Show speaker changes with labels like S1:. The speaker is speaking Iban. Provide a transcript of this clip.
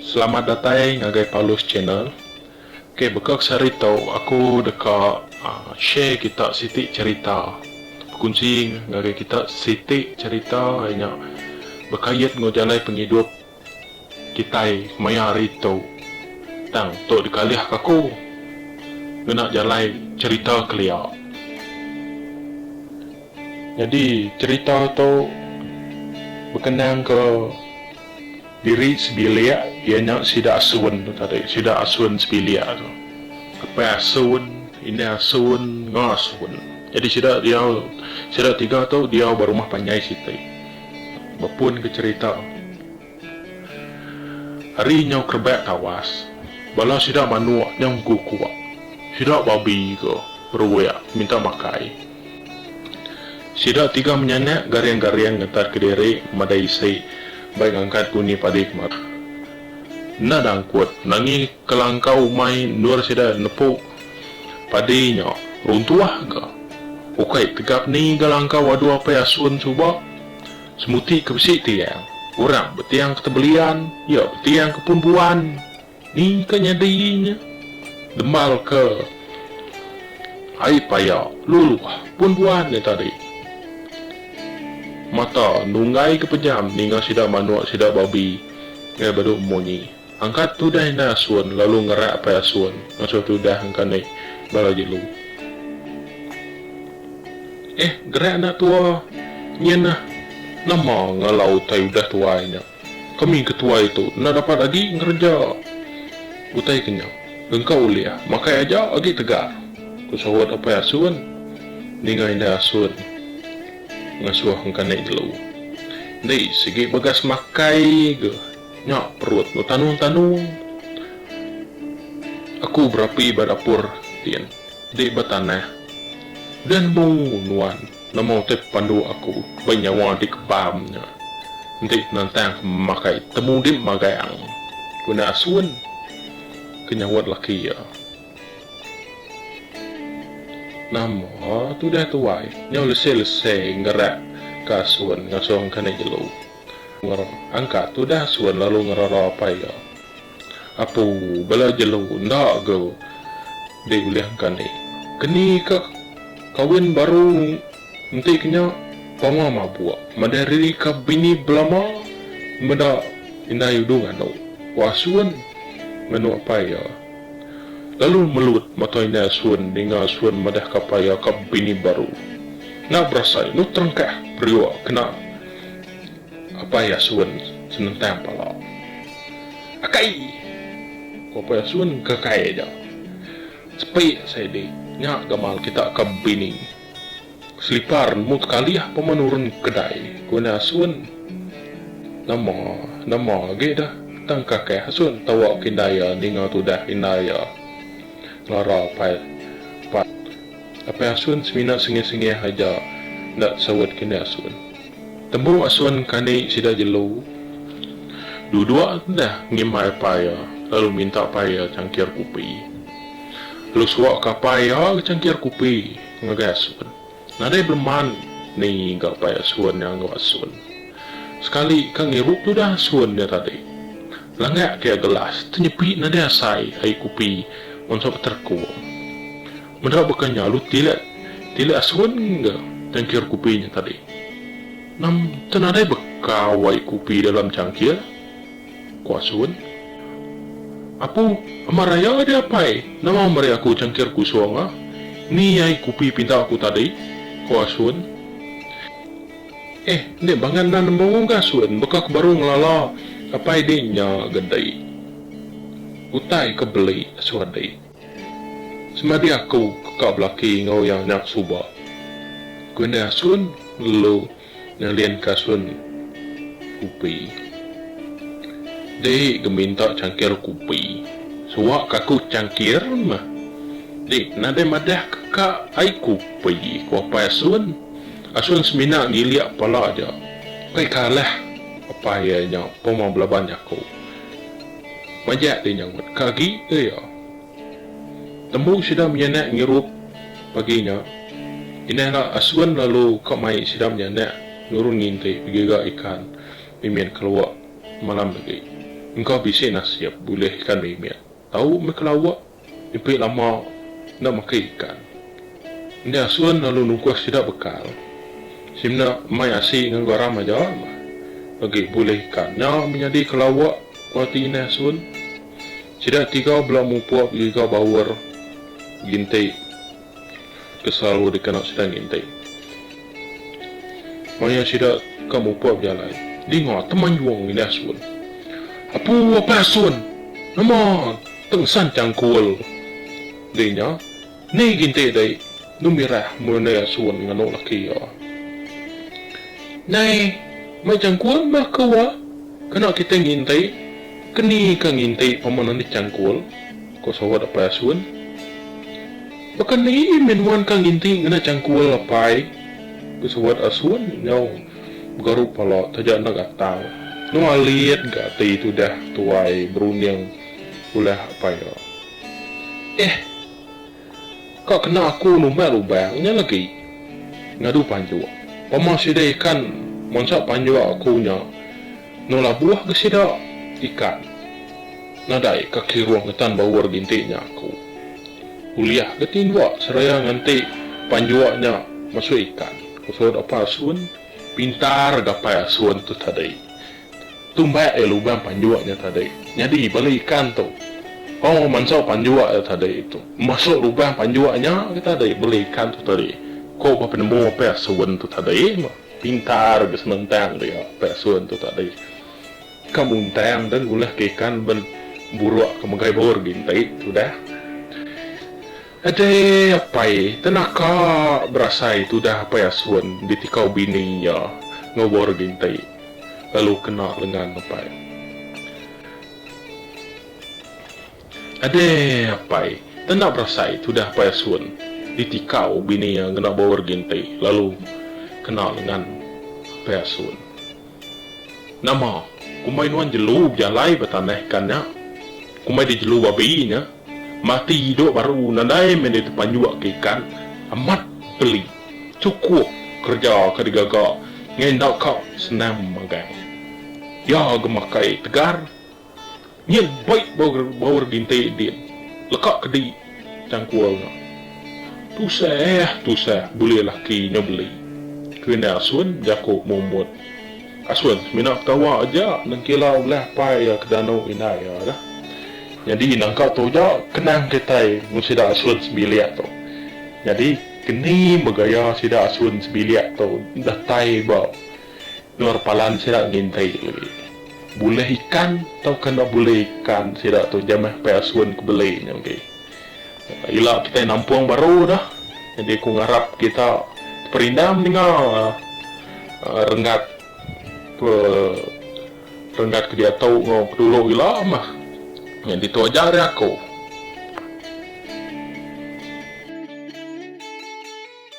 S1: Selamat datai ngagai Paulus channel. Okay baka kesehari tau aku deka share kita siti cerita bekunsi ngagai kita siti cerita iya nya bekait enggau jalai pengidup kitai maya hari tu tang tu dikalihka aku ngena jalai cerita kelia. Nyadi cerita tu bekenangka. Diri sebilik iya nya sida asun tu tadi sida asun sebilik tu apai asun indai asun enggau asun jadi sida diau sida tiga tu diau ba rumah panjai siti bepun ke cerita ari nyau kerebak tawas bala sida manuk nyau engku kua sida babi ke beruik minta makai. Sida tiga menyanak garing-garing ngetatka diri madai isi bai ngangkat kuni padi ke marah. Enda dangkut nangi kelangkau umai endur sida nepu padi nya runtuh ga. Ukai tegap ni ga langkau adu apai asun suba semuti ke bisi tiang. Orang betiang ke tebelian iya betiang ke pun buan. Ningka nyadi nya, dembalka ai paya luluh pun buan nya tadi. Mata nunggaika pejam ninga sida manuk sida babi ngai beduk munyi. Angkat tudah indai asun lalu ngerak pai asun ngasuh tudah engka ni bala jelu. Eh, gerak anak tua nyenah nama ngala utai udah tuai nya. Kami ke tuai tu enda dapat agi ngereja utai ke nya. Engka ulih makai aja agi tegar, ku sahut Apai Asun ninga Indai Asun ngasuh engkanai jelu. Enti sigi bagas makai ga nya perut enda tanung-tanung. Aku berapi ba dapur tin, dek ba tanah. Udah nemu nuan. Nama utai pepandu aku ba nyawa dikebam nya enti penentang makai temudip magang guna asun? ke nyaut laki iya. Nama tudah tuai nyau lese-lese ngerak ka asun ngasung ka nek jelu. Angkat tudah asun lalu ngerara apai iya. Apu bala jelu enda ga diulihka ni. Keni ka kawin baru enti ke nya pama mabuk madai riri ka bini belama meda indai udu nganu ku asun nganu apai iya. Lalu melut mata indai asun ninga asun madah ka apai iya ka bini baru. Enda berasai inu terengkah periuk kena. Apai Yasun senentang pala. Akai! ku Apai Yasun ngagai aja. Sepi sai dik, nya gamal kita ka bini. Selipar nemu tekalih pama nurun kedai, ku Indai Asun. Nama, nama agi dah tang Kakai Asun tawa ke indai iya ninga tudah indai iya, ngelara Apai Apai. Apai Asun semina sengih-sengih aja enda saut ke Indai Asun. Tembu asun kani sida jelu, duduk deh ngimbai apai iya lalu minta apai iya changkir kupi. Lalu suaka apai iya ga changkir kupi ngagai asun. Nadai beleman ni ga apai asun nya enggau asun. Sekali ka ngirup tudah asun nya tadi. Langak ke iya gelas tenyepi nadai asai ai kupi mansa beterekung. Meda baka nya alu tilik tilik asun ga cangkir kupi nya tadi. Nam tu nadai baka wai kupi dalam cangkir? ku asun. Aku amat raya deh apai, nama meri aku cangkir kusong ah? Ni ai kupi pinta aku tadi, ku asun. Eh enda bangan nan embu ga asun baka ke baru ngelala apai deh nya ga dei. Utai ke beli asun dei. Semadi aku ke ka belaki enggau iya nya suba. Ku indai asun ngelu ngelinka asun kupi. Dei geminta changkir kupi. Suwa ka aku changkir meh. Dei nadai madah ke ka ai kupi ku apai asun. Asun semina ngilik pala aja. Kai kalah apai iya nya pemah belaban jaku. Majak ti nyautka ka agi ke iya. Tembu sida menyanak ngirup pagi nya, inah rak Aswin lalu ka mai sida menyanak nurun nginti begiga ikan mimit ke lawak malam agi. Engka bisi nasib bulih ikan mimit tau meh ke lawak. Ipit lama enda makai ikan. Enti asun lalu nungkus sida bekal, simna mai asi ngan garam aja mah. Agi bulih ikan nya menyadi ke lawak ku ati inai asun. Sida tiga bela mupuk giga baur ginti. ke selalu dikena sida nginting. Maya sida ka muput bejalai, dinga Temanjung ngini asun, Apu apai asun, nama tengsan changkul? Di nya, ni ginti dei Gemirah menyundai asun nganu laki iya. Nyai mai changkul meh ke wa, kena kitai nginti, ke ni ka nginti paman enti changkul? Ko sawat Apai Asun. Baka ni meh nuan ka nginti ngena changkul Apai? Ko sawat Asun nyau begarup pala taja enda gatal. Nyau alit ga ati tudah tuai berunding ulah Apai iya. Eh. Ka kena aku numbai lubang nya lagi. Ngadu panjua. Pama sida ikan mansa panjua aku nya eno labuh ga sida ikan. Nadai ka kiruh ngetan baur ginti nya aku. Ulih ga tindua seraya nganti panjua nya masuk ikan, ku Saud Apai Asun pintar gapai asun tu tadi. Tumbak iya lubang panjua nya tadi. Nyadi bala ikan tu. Oh, mansa panjua iya tadi tu. Masuk lubang panjua nya agi tadi bala ikan tu tadi. Ko ba penemu Pak Sun tu tadi. Pintar agi senentang dia Pak Sun tu tadi. Ka muntang dah ngulahka ikan ben buruk ke megai bor gintik tudah. Adai apai tena ka berasai tudah apai asun ditikau bini iya enggau bau regi enti lalu kena lengan apai. Adai apai tena berasai tudah apai asun ditikau bini iya ngena bau regi enti lalu kena lengan apai asun. Nama? Kumbai nuan jelu bejalai ba tanah ikan nya. Kumbai di jelu babi nya. Mati hidup baru nadai meh deh tepanjuk ke ikan. Amat peli. Cukup kereja ka digaga ngai enda ka senang magang. Iya ga makai tegar. Nyin baik baur ginti din leka kedi cangkul nya. Tusah tusah bulih laki nya beli kena asun jaku mumbut. Asun semina ketawa aja nengkila ulah pai iya ke danu indai iya da. Nyadi nangka tu aja kenang kitai enggau sida asun sebilik tu. Nyadi keni begaya sida asun sebilik tu datai ba. Nor palan sida ngintai jeli. Bulih ikan tauka enda bulih ikan sida tu jamah pai asun ke beli nya agi. Ila kitai nampung baru dah jadi aku ngarap kita perindah meninga renggat ke renggat ke diatu enggau ke dulu ila mah. Nya ditu aja ari aku.